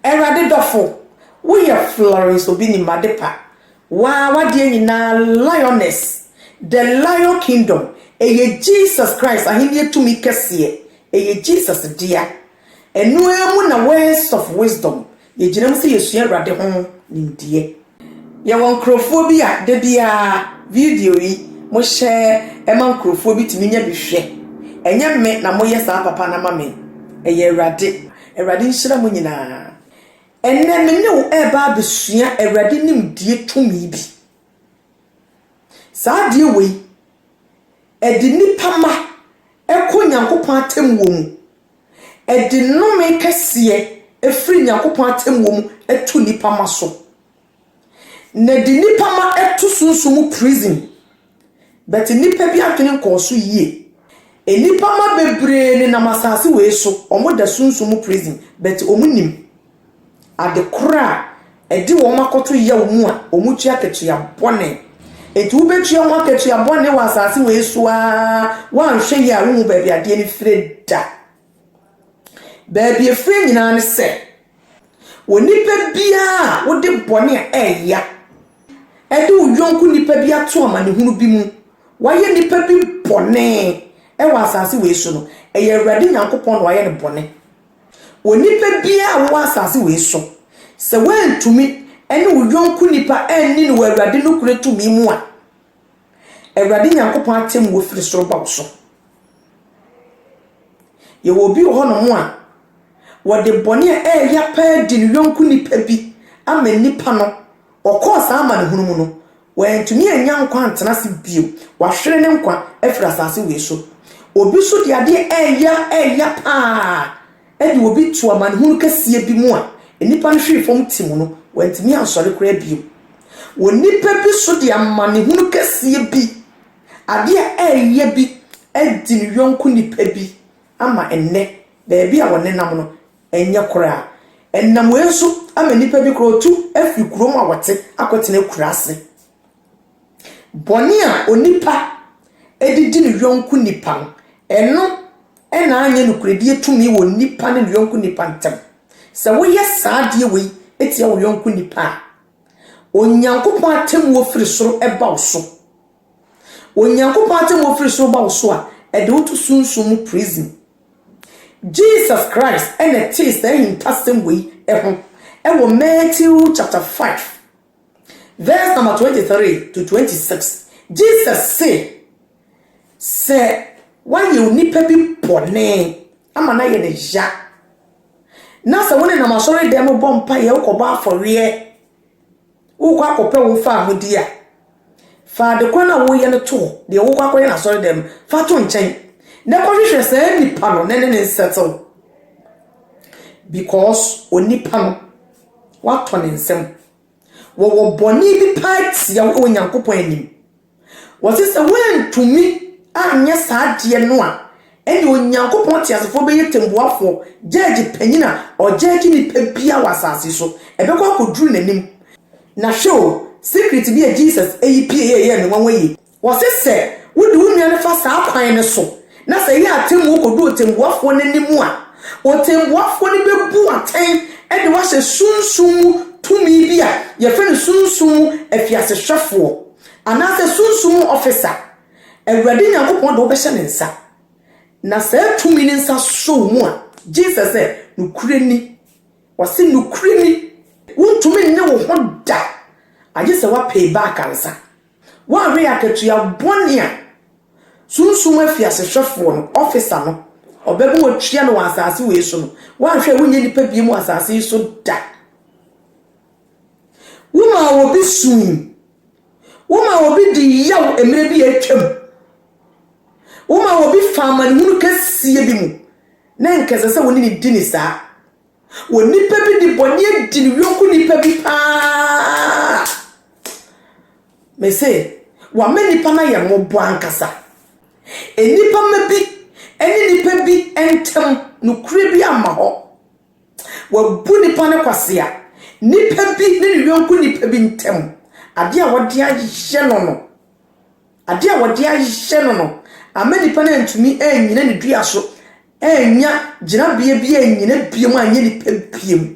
Awurade dɔfo, woyɛ Florence Obinnim Adepa, waa w'adeɛ nyinaa Lioness, the Lion Kingdom, ɛyɛ Jesus Christ ahennie tumi kɛseɛ, ɛyɛ Jesus dea. Ɛno ara mu na Words of Wisdom, yɛgyina mu sɛ yɛsua Awurade ho nimdeɛ. Yɛwɔ nkorɔfoɔ bi a da biara video yi mo hyɛ ma nkorɔfoɔ bi tumi nya bi hwɛ. Ɛnyɛ me na mo yɛ saa papa no ama me. Ɛyɛ Awurade. Awurade nhyira mo nyinaa. Ɛnnɛ me ne wo ɛreba abɛsua Awurade nimdeɛ tumi bi. Saa adeɛ wei ɛde nnipa mma ɛkɔ Nyankopɔn atɛmmuo mu Ɛde nnome kɛseɛ firi Nyankopɔn atemmuo mu to nnipa mma so. Na ɛde nnipa mma to sunsum mu prison. But nnipa bi adwene nkɔɔ so yie. Nnipa mma bebree nenam asase wei so, wɔda sunsum mu prison, but wɔnnim. Ade koro a ɛde wɔn akɔto yaw mu a wɔtua akatua bɔne. Enti wobetua ho akatua bɔne wɔ asase wei so ara, woanhwɛ yie a wonhu baabi adeɛ no fire da. Baabi efire nyinaa ne sɛ, onipa biara a wode bɔne a ɛyɛ ya de wo yɔnko nipa bi ato amanehunu bi mu, wayɛ nipa bi bɔne wɔ asase wei so no, ɛyɛ Awurade Nyankopɔn na wayɛ no bɔne. Onipa biara a ɔwɔ asase wei so, sɛ woantumi ne wo yɔnko nipa anni no wɔ Awurade nokorɛ tumi mu a, Awurade Nyankopɔn atɛmmuo firi soro ba wo so. Yɛwɔ obi wɔ hɔnom a, wɔde bɔne a ɛyɛ ya paa di ne yɔnko nipa bi ama nnipa no, ɔkɔɔ saa amanehunu mu no, Wantumi annya nkwa antena ase bio. Wahwere ne nkwa afiri asase wei so. Obi nso de adeɛ reyɛ reyɛ pa ara de obi to amanehunu kɛseɛ bi mu a nnipa no hwee fam tim no, wantumi ansɔre koraa bio. Onipa bi nso de amanehunu kɛseɛ bi, adeɛ a ɛreyɛ bi adi ne yɔnko nipa bi ama ɛnnɛ baabi a wɔnenam no, Ɛnyɛ koraa. Ɛnam wei so ama nnipa bi koraa ɔtu firi kuro mu a wɔte akɔtena akuraase. Bɔne a onipa de di ne yɔnko nipa no, ɛno na anyɛ nokorɛdie tumi wɔ nipa ne ne yɔnko nipa ntam. Sɛ woyɛ saa adeɛ wei tia wo yɔnko nipa a, Onyankopɔn atemmuo firi soro ba wo so. Onyankopɔn atemmuo firi soro ba wo so a, ɛde wo to sunsum mu prison Jesus Christ na etsee saa ehintasɛm wei ho wɔ Matthew chapter 5 verse number 23 to 26. Jesus see, sɛ wɔayɛ onipa bi bɔne ama no ayɛ no ya, na sɛ wo nenam asɔredan mu bɔ mpaeɛ, wokɔbɔ afɔreɛ, Worekɔ akɔpɛ wo mfaa mu di a, fa ade koro no a woreyɛ no to hɔ, deɛ worekɔ akɔyɛ no asɔredan mu, fa to nkyɛn, na kɔhwehwɛ saa nipa no na ne ne nsettle. Because onipa no, woatɔ ne nsam. Wɔwɔ bɔne bi paa tia wo wɔ Nyankopɔn anim. Wɔse sɛ woantumi anyɛ saa adeɛ no a, ɛneɛ Onyankopɔn teasefoɔ bɛyɛ tembuafoɔ, gyɛɛgye panin a ɔgyɛɛgye nnipa biara wɔ asase so. Ɛbɛkɔ akɔduru n'anim. Na hwɛ o, secret bi a Jesus yi pieeɛ a ɛyɛɛ me nwanwa yie. Wɔse sɛ wode wo nua no fa saa kwan no so, na sɛ ɛyɛ atemmuo kɔdu ɔtembuafoɔ no anim a, ɔtembuafoɔ no bɛbu wo atɛn de wo ahyɛ sunsum mu tumi bi a yɛfrɛ no sunsum mu afiasehwɛfoɔ. Anaasɛ sunsum mu ɔfisa, Awurade Nyankopɔn de wobɛhyɛ ne nsa, na saa tumi no nsa sɔ wo mu a, gye sɛ sɛ nokorɛ ni. Ɔse nokorɛ ni. Wontumi nnye wo ho da, agye sɛ woapay back ansa. Woanhwɛ akatua bɔne a sunsum mu afiasehwɛfoɔ no, ɔfisa no, ɔbɛbɔ wo atua no wɔ asase wei so no, woanhwɛ a worenyɛ nnipa bio mu wɔ asase yi so da. Womaa obi sui. Womaa obi dii yaw mmerɛ bi a atwam. Womaa obi faa amanehunu kɛseɛ bi mu, na anka ɛsɛ sɛ wo ne no di no saa. Onipa bi de bɔne adi ne yɔnko nipa bi paa. Mese, wama nipa no ayɛ mmɔbɔ ankasa. Nnipa mma bi ne nnipa bi ntam nokorɛ bi amma hɔ. Wɔabu nnipa no kwasea. Nnipa bi ne ne yɔnko nnipa bi ntam, adeɛ a wɔde ahyɛ no no, adeɛ a wɔde ahyɛ no no ama nnipa no antumi annyina ne dua so, annya gyinabea bi annyina biom anyɛ nnipa biom.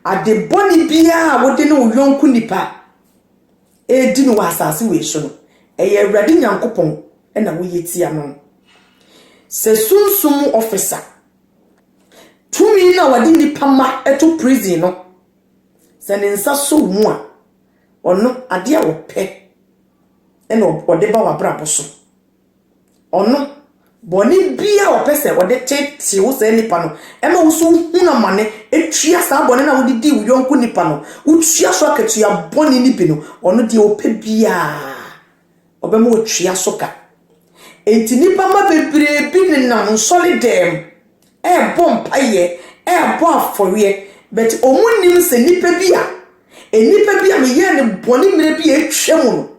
Ade bɔne biara a wode ne wo yɔnko nnipa. ɛredi no wɔ asase wei so no, ɛyɛ Awurade Nyankopɔn na woyɛ tia no. Sɛ sunsum mu ɔfisa, tumi no a wɔde nnipa mma to prison no, sɛ ne nsa sɔ wo mu a, ɔno, adeɛ a ɔpɛ na ɔde ba w'abrabɔ so. Ɔno, bɔne biara a ɔpɛ sɛ ɔde teetee wo saa nipa no, ɛma wo nso wohunu amane, tua saa bɔne no a wode dii wo yɔnko nipa no, wotua so akatua bɔne no bi no, ɔno deɛ ɔpɛ biara, ɔbɛma watua so ka. Enti nipa mma bebree bi nenam nsɔre dɛm ɛrebɔ mpaeɛ, ɛrebɔ afɔreɛ, but wɔnnim sɛ nipa bi a, nipa bi a meyɛɛ no bɔne mmerɛ bi a atwa mu no,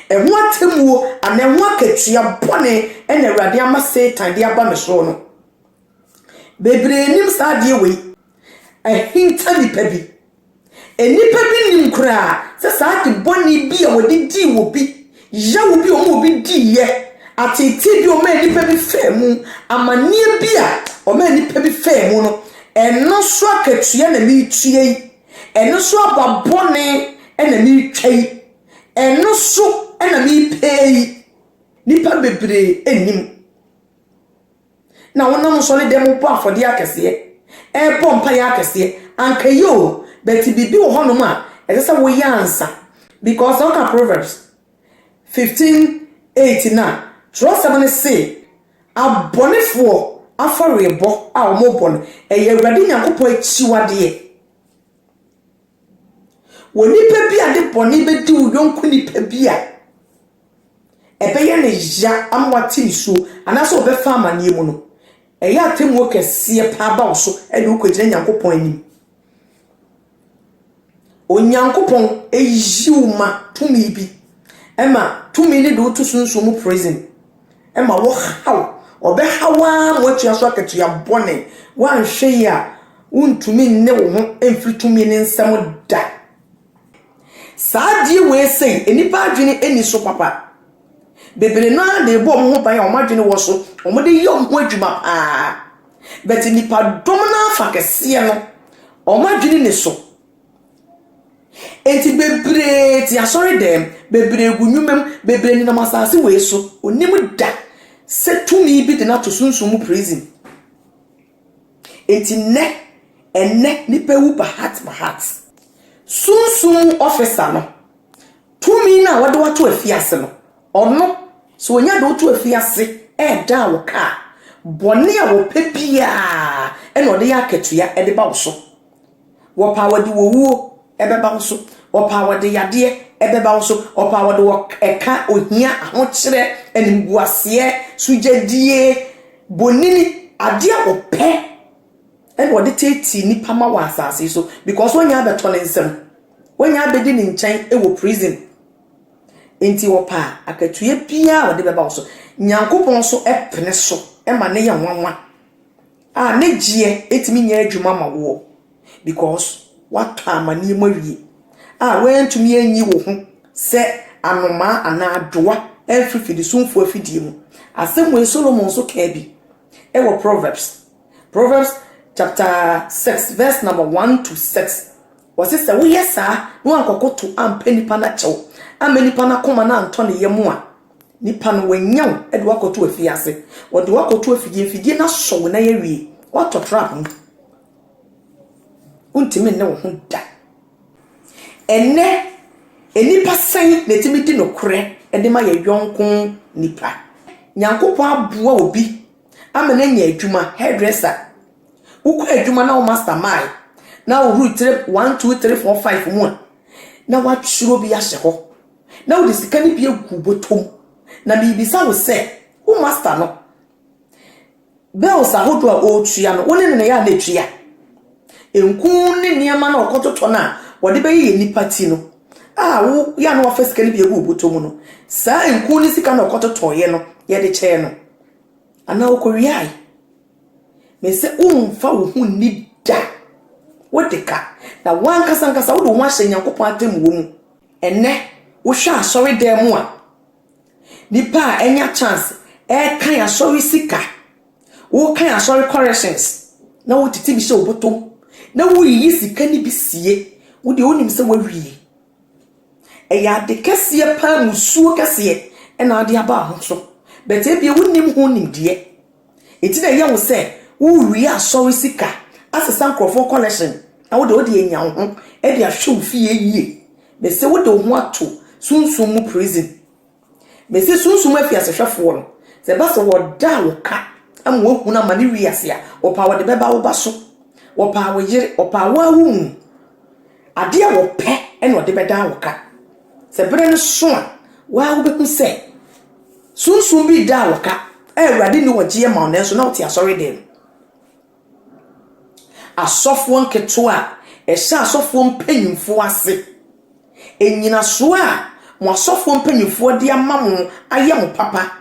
Ɛho atemmuo anaa ɛho akatua bɔne na Awurade ama Satan de aba me soɔ no. Bebree nim saa adeɛ wei. Ahinta nnipa bi. Nnipa bi nim koraa sɛ saa ade bɔne bi a wɔde dii wɔ bi, yaw bi a wɔn a obi diiɛ, ateetee bi a wɔmaa nnipa bi faa mu, amanneɛ bi a wɔmaa nnipa bi faa mu no, ɛno so akatua na meretua yi. Ɛno so aba bɔne na meretwa yi. Ɛno so na merepɛ yi, nnipa bebree nnim. Na wonam nsɔre dɛm bɔ afɔdeɛ akɛseɛ, ɛrebɔ mpaeɛ akɛseɛ, anka ɛyɛ o, but biribi wɔ hɔnom a ɛsɛ sɛ woyɛ ansa. Because sɛ woka Proverbs 15, 8 no a, twerɛsɛm no se, abɔnefoɔ afɔrebɔ a wɔbɔ no, ɛyɛ Awurade Nyankopɔn akyiwadeɛ. Wɔ nipa bi a de bɔne bɛdi wo yɔnko nipa bi a, ɛbɛyɛ no ya ama wate nisuo anaasɛ ɔbɛfa amaneɛ mu no, ɛyɛ atemmuo kɛseɛ paa ba wo so de wo kɔgyina Nyankopɔn anim. Onyankopɔn ɛyi wo ma tumi bi, ɛma tumi no de wo to sunsum mu prison. ma wɔhaw, wɔbɛhaw ara ma wɔatua so akatua bɔne. Woanhwɛ yie a, wontumi nne wo ho mfiri tumi no nsam da. Saa adeɛ wei sei, nnipa adwene nni so papa. Bebree no ara de rebɔ wɔn ho ban a wɔn adwene wɔ so, wɔde yɛ wɔn ho adwuma paa. But nnipadɔm no ara fa kɛseɛ no, wɔn adwene nni so. Enti bebree te asɔredɛm, bebree gu nnwuma mu, bebree nenam asase wei so. Onnim da sɛ tumi bi de no ato sunsum mu prison. Enti nnɛ, ɛnnɛ nnipa wu bahat bahat. Sunsum mu officer no, tumi no a wɔde wo ato afiase no, ɔno, sɛ onya de wo to afiase redan wo ka a, bɔne a ɔpɛ biara na ɔde yɛ akatua de ba wo so. Wɔpɛ a wɔde owuo bɛba wo so. Wɔpɛ a wɔde yadeɛ bɛba wo so. Wɔpɛ a wɔde ɛka, ohia, ahokyerɛ, animguaseɛ, sugyadie, bonini, adeɛ a wɔpɛ ɛna wɔde teetee nnipa ma wɔ asase yi so because wɔnya abɛtɔ ne nsam. Wɔnya abɛdi ne nkyɛn wɔ prison. Nti wɔpɛ a akatuiɛ biara a wɔde bɛba wo so. Nyankopɔn nso pene so ma ne yɛ nwanwa. A ne gyeɛ ɛtumi nyɛ adwuma ma woɔ because woatɔ amaneɛ mu awie a woantumi anyi wo ho sɛ anomaa anaa adoa amfiri fidisumfoɔ afidie mu. Asɛm wei Solomon nso kaa bi wɔ Proverbs, Proverbs chapter six verse number one to six. Ɔse sɛ woyɛ saa na woankɔkoto ampɛ nipa no akyɛw, amma nipa no akoma no antɔ ne yam a, Nipa no, wɔanya wo de wo akɔto afiase. Wɔde wo akɔto afidie, afidie no asɔ wo nan awie. Woatɔ trap mu. Wontumi nne wo ho da. Ɛnnɛ, nnipa sɛn na ɛtumi di nokorɛ de ma yɛ yɔnko nipa? Nyankopɔn aboa obi ama no anya adwuma, hairdresser. Wokɔ adwuma na wo master mind na wohuru tire one two three four five mu a, na woatwerɛ bi ahyɛ hɔ. na wode sika no bi agu wo bɔtɔ mu. Na merebisa wo sɛ, wo master no, bills ahodoɔ a ɔretua no, wo ne no na ɛyɛ a na ɛtua? Nku ne nneɛma no a ɔkɔtotɔ no a wɔde bɛyeyɛ nnipa ti no a woyɛ a na wafa sika no bi agu wo bɔtɔ mu no, saa nku ne sika na ɔkɔtotɔeɛ no yɛde kyɛɛ no anaa ɔkɔwiae? Mese womfa wo ho nni da. Wode ka. Na wankasa ankasa wode wo ho ahyɛ Nyankopɔn atemmuo mu. Ɛnnɛ, wohwɛ asɔredan mu a, nnipa a anya chance ɛrekan asɔre sika, wokan asɔre corrections na wotete bi hyɛ wo bɔtɔ mu na woyiyi sika no bi sie. Wo deɛ wonim sɛ woawie. Ɛyɛ ade kɛseɛ paa, musuo kɛseɛ na wode aba wo ho so. But ebia wonim ho nimdeɛ. Enti na ɛyɛ wo sɛ worewie asɔre sika asesa nkurɔfoɔ collection na wode wode anya wo ho de ahwɛ wo fie yie. Mese wode wo ho ato sunsum mu prison. Mese sunsum afiasehwɛfoɔ no sɛ ɛba sɛ wɔda a wɔka ama woahunu amane wiase a wɔpaa wɔde bɛba wo ba so, wɔpaa wo yere, wɔpaa wo ara wo mu. Adeɛ a wɔpɛ na wɔde bɛdan wo ka. Sɛ berɛ no so a, wo ara wobɛhu sɛ sunsum bi redan wo ka a Awurade nni wɔgyeɛ ma wo nanso na wote asɔredan mu. Asɔfoɔ nketewa a ɛhyɛ asɔfoɔ mpanyimfoɔ ase. Nnyinasoɔ a mo asɔfoɔ mpanyimfoɔ de ama mo ayɛ mo papa.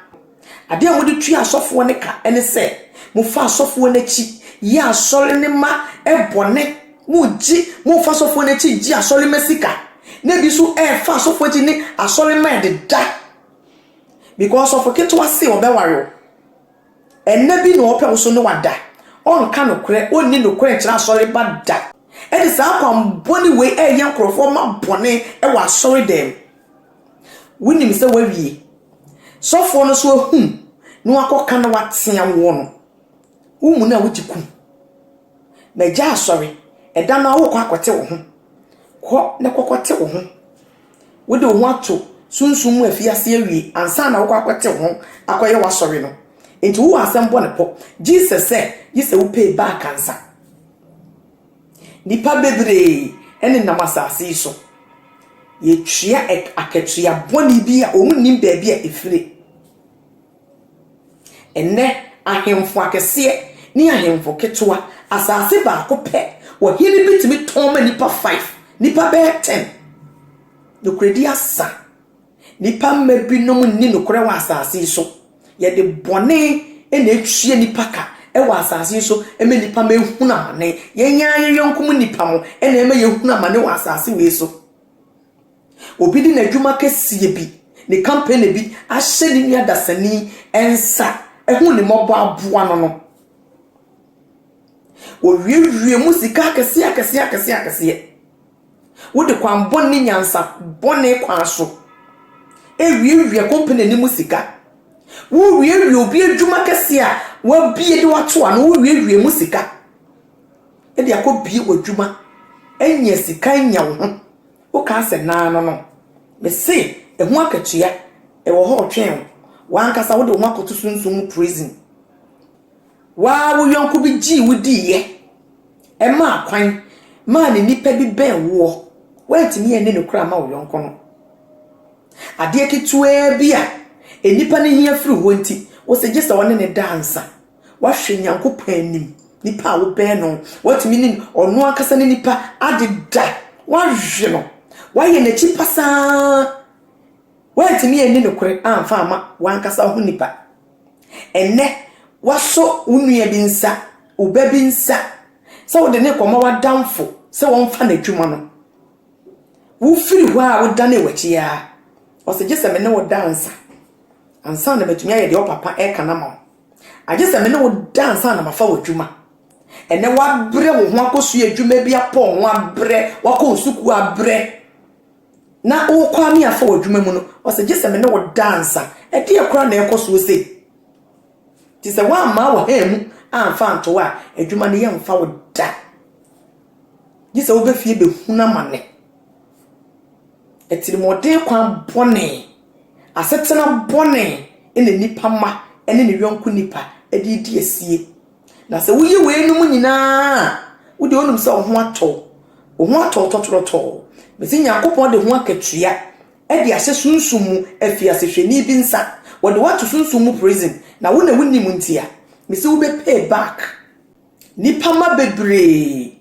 Ade a mode tua asɔfoɔ no ka ne sɛ, mofa asɔfoɔ no akyi yɛ asɔre no ma bɔne, mogye, mofa asɔfoɔ no akyi gye asɔre ma sika, na ebi nso ɛfa asɔfoɔ akyi ne asɔre ma ɛdeda. Because sɔfo ketewa se ɔbɛware wo. Ɛnna bi na ɔpɛ wo so ne wada. Ɔnka nokorɛ, ɔnni nokorɛ nkyerɛ asɔre ba da. Ɛne saa kwammɔne wei ɛyɛ nkurɔfoɔ ma bɔne wɔ asɔre dan mu. Wonim sɛ wawie. Sɔfoɔ no nso ahunu na wakɔka na watea woɔ no, wo mu no a wogye kum. Na agya asɔre, ɛda no ara wokɔ akɔte wo ho. Kɔ na kɔkɔte wo ho. Wode wo ho ato sunsum mu afiase awie ansa na wokɔ akɔte wo ho akɔyɛ w'asɔre no. Enti wowɔ asɛm bɔ ne pɔ. Jesus sɛ, gye sɛ wopay back ansa. Nnipa bebree nenam asase yi so. Yɛtua akatua bɔne bi a wɔn nnim baabi a ɛfire. Ɛnnɛ, ahemfo akɛseɛ ne ahemfo ketewa, asase baako pɛ, ɔhene bi tumi tɔn ma nnipa five, nnipa bɛyɛ ten. Nokorɛdie asa. Nnipa mma binom nni nokorɛ wɔ asase yi so. Yɛde bɔne na ɛtua nnipa ka wɔ asase yi so ma nnipa ma ɛhunu amane. Yɛn ara yɛn yɔnko mu nnipa mo na ɛma yɛhunu amane wɔ asase wei so. Obi de n'adwuma kɛseɛ bi, ne kampani bi ahyɛ ne nua dasani nsa, ɛhu ne mmɔbɔ aboa no no. Wɔwiewie mu sika akɛseɛ akɛseɛ akɛseɛ akɛseɛ. Wode kwan bɔne ne nyansa bɔne kwan so wiawia company no mu sika. Wowiawia obi adwuma kɛseɛ a wabie de wato ano, wowiawia mu sika de akɔbie w'adwuma anya sika anya wo ho. Wokaa sɛ naa no no, mese ɛho akatua ɛwɔ hɔ retwɛn wo. W'ankasa wode wo ho akɔto sunsum mu prison. Wo ara wo yɔnko bi gyee wo diiɛ, ɛmaa kwan maa ne nipa bi bɛn woɔ, woantumi anni nokorɛ amma wo yɔnko no. Adeɛ ketewaa bi a nnipa no hia firi hɔ nti, wose gye sɛ ɔne no da ansa. Woahwɛ Nyankopɔn anim, nipa a wobɛn no, woatumi ne ɔno ankasa ne nipa adeda, woawe no, woayɛ n'akyi pasaa, woantumi anni nokorɛ amfa amma w'ankasa ho nipa. Ɛnnɛ, woasɔ wo nua bi nsa, wo ba bi nsa, sɛ wode no rekɔma w'adamfo sɛ wɔmfa n'adwuma no. Wofiri hɔ a wodanee w'akyi ara. Ɔse, gye sɛ me ne wo da ansa, ansa na matumi ayɛ deɛ wo papa reka no ama wo. Agye sɛ me ne wo da ansa na mafa w'adwuma. Ɛnnɛ, woabrɛ wo ho akɔsua adwuma bi, apɔ wo ho abrɛ, woakɔ wo sukuu abrɛ. na worekwaa me afa w'adwuma mu no, ɔse gye sɛ me ne wo da ansa. Ɛdeɛ koraa na ɛrekɔ soɔ sei? Gye sɛ woammaa wo haa mu amfa anto a, adwuma no yɛmfa wo da. Gye sɛ wobɛ fie bɛhunu amane. Atirimuɔden kwan bɔne, asetena bɔne na nipa ma ɛne ne yɔnko nipa de redi asie. Na sɛ woyɛ weinom nyinaa a, wo deɛ wonim sɛ wo ho atɔ wo. Wo ho atɔ wo tɔtorɔtɔɔ. Mese Nyankopɔn de ho akatua de ahyɛ sunsum mu afiasehwɛni bi nsa. Wɔde wo ato sunsum mu prison, na wo na wonim ntia. Mese wo bɛ pay back. Nnipa mma bebree,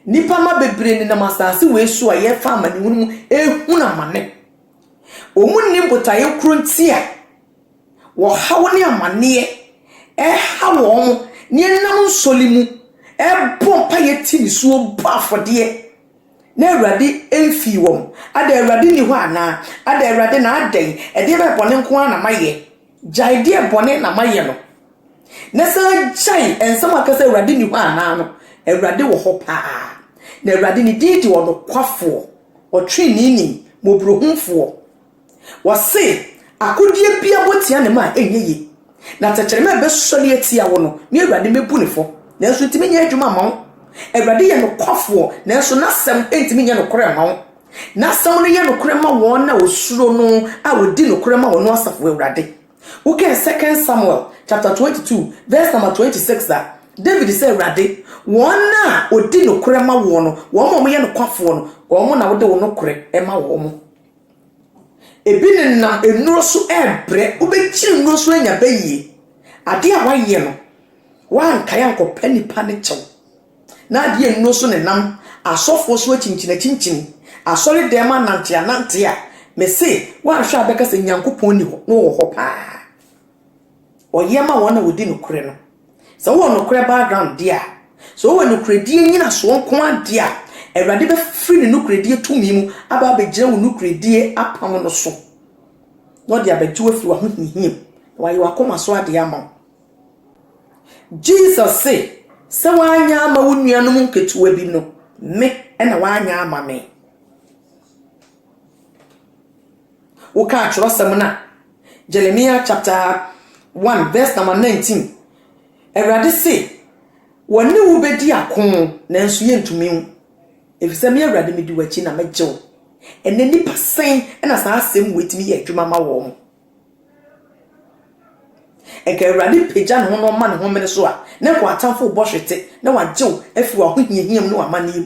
nnipa mma bebree nenam asase wei so a yɛrefa amanehunu mu ɛrehunu amane. Wɔn nnim botaeɛ korɔ nti a wɔhaw ne amaneɛ ɛha wɔn ne ɛnam nsɔle mu ɛbɔ mpaeɛ ti nisuo bɔ afɔdeɛ na awurade ɛmfii wɔn ada awurade ni hɔ anaa ada awurade na adɛn ɛdeɛ bɛɛ bɔne nko ara na mayɛ gyae deɛ bɔne na mayɛ no na sɛ gyae ɛnsɛm aka sɛ awurade ni hɔ anaa no awurade wɔ hɔ paa na awurade ne din de ɔnokwafoɔ ɔtwene ni mɔborɔhumfoɔ Wɔse, Akodeɛ biara bɔ tia ne ma a, ɛnyɛ yie, na tɛkyerɛma a ɛbɛsɔre atia wo no, me Awurade mɛbu no fɔ, nanso ɛntumi nyɛ adwuma mma wo. Awurade yɛ nokwafoɔ, nanso n'asɛm ntumi nyɛ nokorɛ mma wo. N'asɛm no yɛ nokorɛ ma wɔn a wɔsuro no a wɔdi nokorɛ ma ɔno Asafo Awurade. Wokan 2 Samuel chapter 22 vs. 26 a, David se, Awurade, wɔn a wɔdi nokorɛ ma woɔ no, wɔn a wɔyɛ nokwafoɔ no, wɔn na wode wo nokorɛ ma wɔn. Ebi nenam nnuro so rebrɛ. Wobɛkyiri nnuro so anya bayie. Adeɛ a woayɛ no, woankae ankɔpɛ nnipa no kyɛw. Na adeɛ a nnuro so nenam asɔfoɔ so akyinkyinakyinkyini, asɔredɛm ananteanante a, mese woanhwɛ a wobɛka sɛ Nyankopɔn nni hɔ, na ɔwɔ hɔ pa ara. Ɔyɛ ma wɔn a wɔdi nokorɛ no. Sɛ wowɔ nokorɛ background deɛ a, sɛ wowɔ nokorɛdie nyinasoɔ nko ara deɛ a, Awurade bɛfiri Ne nokorɛdie tumi mu aba abɛgyina wo nokorɛdie apam no so, na Ɔde abɛgye wo afiri w'ahohiahia mu, na Wayɛ w'akoma so adeɛ ama wo. Jesus se, Sɛ woanyɛ ama wo nuanom nketewa bi no, Me na woanyɛ ama Me. Wokaa kyerɛwsɛm no a, Jeremiah chapter one verse number nineteen, Awurade se, Wɔne wo bedi ako, nanso yentumi wo, efisɛ me Awurade midi w'akyi na megye wo. Ɛnɛ nnipa sɛn na saa asɛm wei tumi yɛ adwuma ma wɔn? Nka Awurade pagya ne ho na ɔma ne homene so a, na nka w'atamfo rebɔ hwete na wagye wo afi w'ahohiahia mu ne w'amanneɛ mu.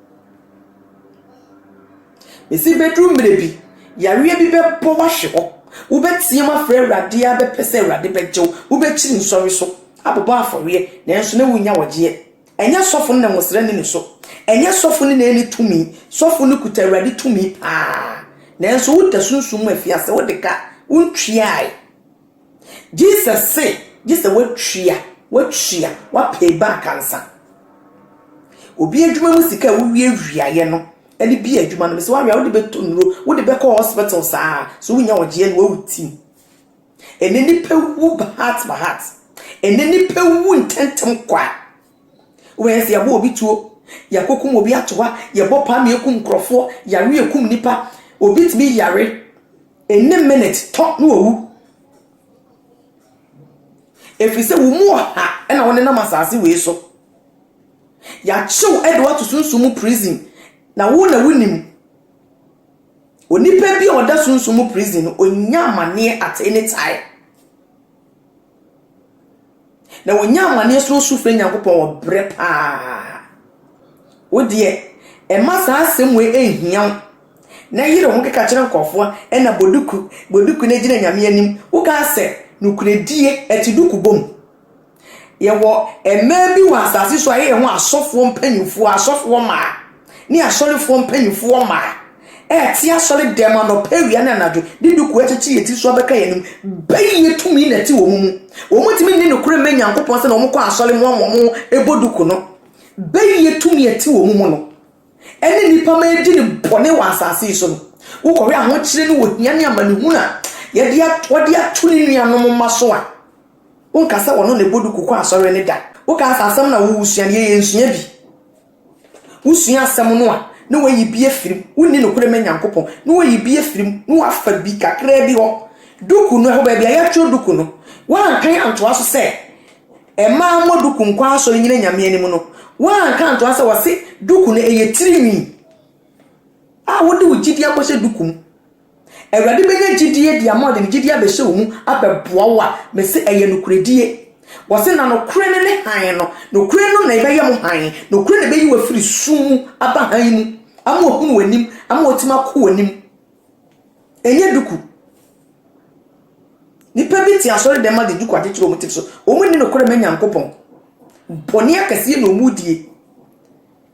Ese bɛduru mmerɛ bi, yareɛ bi bɛbɔ wo ahwe hɔ. Wobɛteam afrɛ Awurade ara bɛpɛ sɛ Awurade bɛgye wo. Wobɛkyiri nsɔre so abobɔ afɔreɛ nanso na wonnya wɔgyeɛ. Ɛnyɛ sɔfo no na nwosra nni ne so. Ɛnyɛ sɔfo no na ɛnni tumi. Sɔfo no kuta Awurade tumi paa. Nanso woda sunsum mu afiase, wode ka, wontwiaae. Jesus se, gye sɛ woatua, woatua, woapay back ansa. Obi adwuma mu sika a wowiawiaeɛ no ne bi adwuma no, mesɛ woawe a wode bɛtɔ nnuro, wode bɛkɔ hospital saa, so wonya ɔgyeɛ no wawu tim. Ɛnɛ nipa wu heart by heart. Ɛnɛ nipa wu ntɛntɛm kwa. Wobɛyɛ sɛ yɛabɔ obi tuo, yɛakɔkum obi ato hɔ a, yɛbɔ paa ma yɛkum nkurɔfoɔ, yare a ɛkum nnipa. Obi tumi yare, ɛnni minute tɔ na wawu. Ɛfiri sɛ wo mu ɔha na wonenam asase wei so. Yɛakyew de woato sunsum mu prison, na wo na wonim. Onipa bi a ɔda sunsum mu prison no, ɔnya amanneɛ at any time. Na wɔnya amanneɛ srɛ su frɛ Nyankopɔn wɔ berɛ pa ara. Wo deɛ, mma saa asɛm wei nhia wo, na yere wo ho keka kyerɛ nkurɔfoɔ, ɛna bɔ duku, bɔ duku na gyina Nyame anim. Wokaa sɛ, Nokorɛdie, ɛte duku bɔ mu. Yɛwɔ mmaa bi wɔ asase so a yɛyɛ ho asɔfoɔ mpanimfoɔ, asɔfoɔ mmaa. ne asɔrefoɔ mpanimfoɔ mmaa ɛrete asɔre dɛm anɔpa awia ne anadwo de duku akyekye yɛn tiri so abɛka yɛn anim. Bɛyɛ tumi na ɛte wɔn mu. Wɔn ntumi nni nokorɛ mmɛ Nyankopɔn sɛ na wɔn kɔ asɔre mu ama wɔn ɛbɔ duku no. Bɛyɛ tumi ɛte wɔn mu no ɛne nnipa ma ɛdi ne bɔne wɔ asase yi so no. Wokɔhwɛ ahokyere ne ohia ne amanehunu a yɛde wɔde ato ne nuanom mma so a, wonka sɛ wɔn na ɛbɔ duku kɔ asɔre ne da. Woka asɛ asɛm na wowusua no yɛyɛ nsua bi. Wosua asɛm no a, na woayi bi afiri mu. Wonni nokorɛ ma Nyankopɔn, na woayi bi afiri mu, na woafa bi kakraa bi hɔ. Duku no, ɛhɔ baabi a yɛatwerɛ duku no, woankan antoa so sɛ, Mmaa mmɔ duku nkɔ asɔre nnyina Nyame anim no, woanka antoa sɛ wɔse duku no ɛyɛ tirinwi a wode wo gyidie akɔhyɛ duku mu. Awurade bɛnya gyidie de ama ɔde ne gyidie abɛhyɛ wo mu abɛboa wo a, mese ɛyɛ nokorɛdie. Wɔse na nokorɛ no ne hann no, nokorɛ no na ɛbɛyɛ mo hann, nokorɛ na ɛbɛyi wo afiri sum mu aba hann mu ama wahunu w'anim, ama watumi ako w'anim. Ɛnyɛ duku. Nipa bi te asɔre dɛm ma de duku akyekyere wɔn ti so, wɔn nni nokorɛ ma Nyankopɔn. Bɔne akɛseɛ na wɔn die.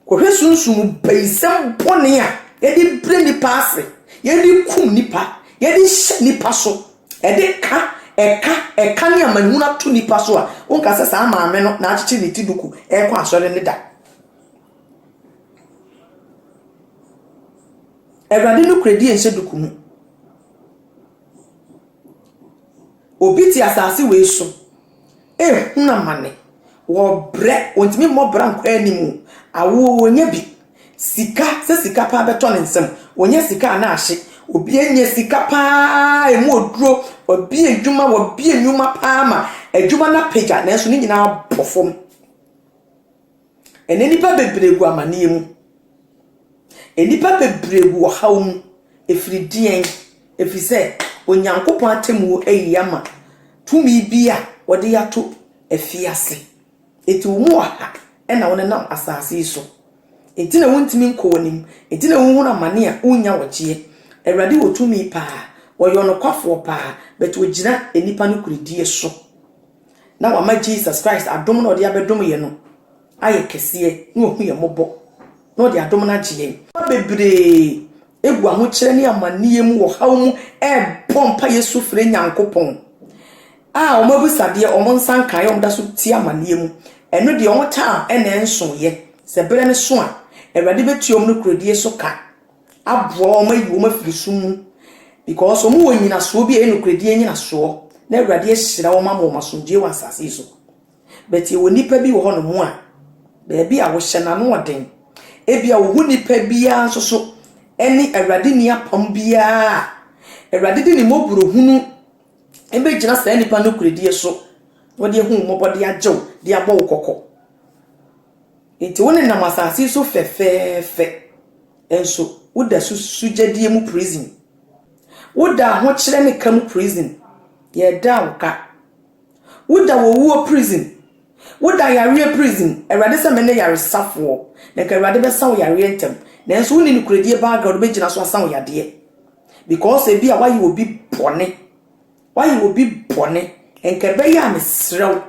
Kɔhwɛ sunsum bayisɛm bɔne a yɛde brɛ nnipa ase, yɛde kum nnipa, yɛde hyɛ nnipa so, ɛde ka ɛka ɛka ne amanehunu ato nnipa so a, wonka sɛ saa maame no na akyekyere ne ti duku rekɔ asɔre no da. Awurade nokorɛdie nhyɛ duku mu. Obi te asase wei so. Eh hunu amane wɔ brɛ ɔntumi mmɔ bra nkɔ anim o awoɔ wɔnya bi sika sɛ sika paa bɛtɔ ne nsam wɔnya sika a na ahye obi anya sika paa ɛmu oduro wabi adwuma wabi nnwuma paa ma adwuma no apagya nanso ne nyinaa bɔ fam. Ɛnnɛ nnipa bebree gu amaneɛ mu. Nnipa bebree gu ɔhaw mu. Ɛfiri deɛn? Ɛfiri sɛ Onyankopɔn atemmuo ayi ama tumi bi a wɔde ato afiase. Enti wɔn mu ɔha na wɔnenam asase yi so. Enti na wontumi nkɔ w'anim. Enti na wohunu amane a wonnya wɔgyeɛ. Awurade wɔ tumi paa. Ɔyɛ ɔnokwafoɔ paa. But ɔgyina nnipa nokorɛdie so. na wama Jesus Christ adom no a ɔde abɛdom yɛn no ayɛ kɛseɛ, na wahu yɛn mmɔbɔ, na ɔde adom no agye yɛn. Nnipa bebree gu ahokyerɛ ne amanneɛ mu wɔ haw mu rebɔ mpaeɛ su frɛ Nyankopɔn a wɔn abisadeɛ, wɔn nsa nkaeɛ, wɔn da so te amanneɛ mu. Ɛno deɛ wɔn time na ɛnsoeɛ. Sɛ berɛ no so a, Awurade bɛtua wɔn nokorɛdie so ka. aboa wɔn ayi wɔn afiri sum mu because wɔn wɔ nyinasoɔ bi a ɛyɛ nokorɛdie nyinasoɔ na awurade ahyira wɔn ama wɔn asomdwoeɛ wɔ asase yi so but ɛwɔ nnipa bi wɔ hɔ nom a baabi a wɔhyɛ n'ano ɔden ebi a wɔhu nnipa biara nso so ɛne awurade ni apam biara a awurade de ne mmɔborɔ hunu ɛbɛgyina saa nnipa nokorɛdie so wɔde ahu mmɔbɔ de agyew de abɔ wo kɔkɔ Enti wonenam asase yi so fɛfɛɛfɛ, nso woda so susugyadiɛ mu prison. Woda ahokyerɛ ne ka mu prison, yɛda wo ka. Woda owuo prison, woda yareɛ prison, Awurade sɛ mene yaresafoɔ, na nka Awurade bɛsa wo yareɛ ntɛm, nanso wonni nokorɛdie background a wobɛgyina so asa wo yadeɛ. Because ebi a woayɛ obi bɔne, woayɛ obi bɔne, nka ɛbɛyɛ a mesrɛ wo,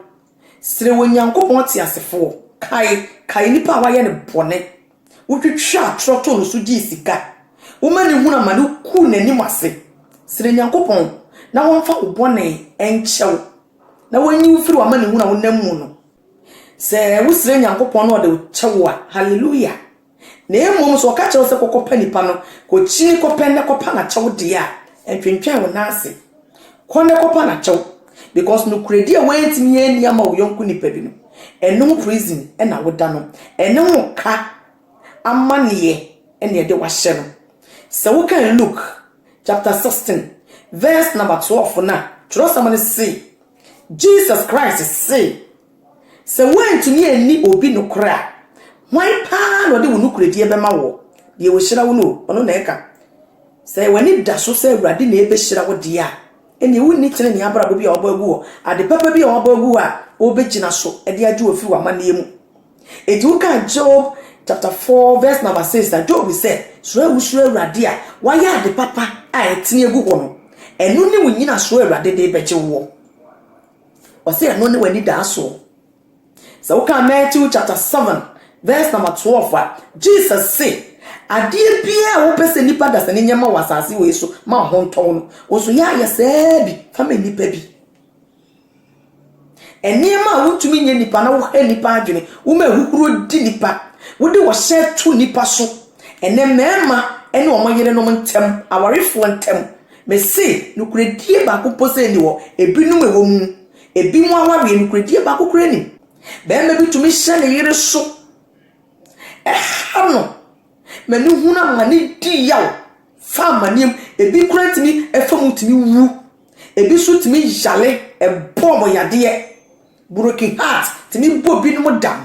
Sere Onyankopɔn teasefoɔ. Kae, kae nipa a wayɛ no bɔne. Wotwitwaa atorɔ too no so gyee sika. Woma no hunu amane, wogu n'anim ase. Sere Nyankopɔn na wɔmfa wo bɔne nkyɛ wo, na wɔnyi wo firi w'amanehunu a wonam mu no. Sɛ wosrɛ Nyankopɔn na ɔde wo kyɛ wo a, Hallelujah! Na mmom sɛ wɔka kyerɛ wo sɛ kɔkɔpa nipa no, kɔkyini kɔpɛ na kɔpa no akyɛw deɛ a, ntwentwɛn wo nan ase. Kɔ na kɔpa no akyɛw. Because nokorɛdie a woantumi anni ama wo yɔnko nipa bi no, ɛno ho prison na woda no. Ɛno ho ka amanneɛ na ɛde wo ahyɛ no. Sɛ wokan Luke chapter 16 verse number 12 no a, twerɛsɛm no se Jesus Christ see Sɛ woantumi anni obi nokorɛ a, hwan paa na ɔde wo nokorɛdie bɛma woɔ? Deɛ ɔhyira wo no, ɔno na ɛka. Sɛ w'ani da so sɛ Awurade na ɛbɛhyira wo deɛ a, ɛnneɛ wonni tenenee abrabɔ bi a wɔabɔ agu hɔ, ade papa bi a wɔabɔ agu hɔ a wobɛgyina so de agye wo afiri w'amanneɛ mu. Enti wokaa Job chapter 4 verse number 6 a, Job sɛ, Suro a wosuro Awurade a woayɛ ade papa a ɛtene agu hɔ no, ɛno ne wo nnyinasoɔ a Awurade de rebɛgye woɔ. Ɔse ɛno ne w'anidaasoɔ. Sɛ wokan Matthew chapter 7 verse number 12 a, Jesus se, Adeɛ biaa a wopɛ sɛ nnipa dasani nyɛ ma wo asase wei so ma wo ho ntɔ wo no, wo nso yɛ ayɛ saa bi fa ma nnipa bi. Nneɛma a wontumi nyɛ nnipa na wohɛ nnipa adwene, woma ahuhuro di nnipa, wode ɔhyɛ to nnipa so. Ɛnɛ mmarima ne wɔn yerenom ntam, awarefoɔ ntam, Mese, nokorɛdie baako mpo sɛ nni hɔ, ebinom ɛwɔ mu, ebinom awareɛ nokorɛdie baako koraa nnim. Barima bi tumi hyɛ ne yere so, ɛha no, ma no hunu amane di yaw, fa amaneɛ mu, ebi koraa tumi fa mu tumi wu, ebi nso tumi yare, ɛbɔɔ wɔn yadeɛ, broken heart tumi bɔ binom dam.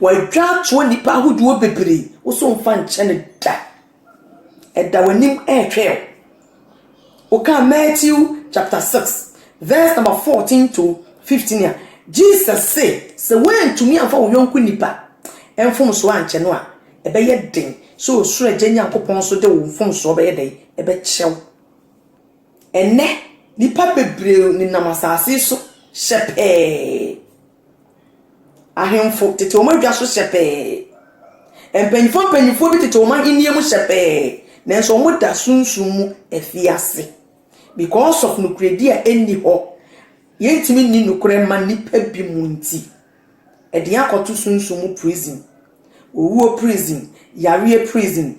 Wɔatwa atoa nnipa ahodoɔ bebree, wo so mfa nkyɛ no da. Ɛda w'anim ɛretwɛn wo. Wokaa Matthew chapter 6 verse number 14 to 15 a, Jesus se sɛ woantumi amfa wo yɔnko nipa mfomsoɔ ankyɛ no a, ɛbɛyɛ den sɛ ɔsoro agya Nyankopɔn nso de wo mfomsoɔ bɛyɛ dɛn? Ɛbɛkyɛ wo. Ɛnnɛ, nnipa bebree nenam asase so hyɛ pɛɛ. Ahemfo tete wɔn adwa so sɛpɛɛ. Mpanyimfoɔ mpanyimfoɔ bi tete wɔn ahennie mu sɛpɛɛ, nanso wɔda sunsum mu afiase. Because of nokorɛdie a ɛnni hɔ, yɛntumi nni nokorɛ mma nnipa bi mu nti, ɛde yɛn akɔto sunsum mu prison, owuo prison, yareɛ prison.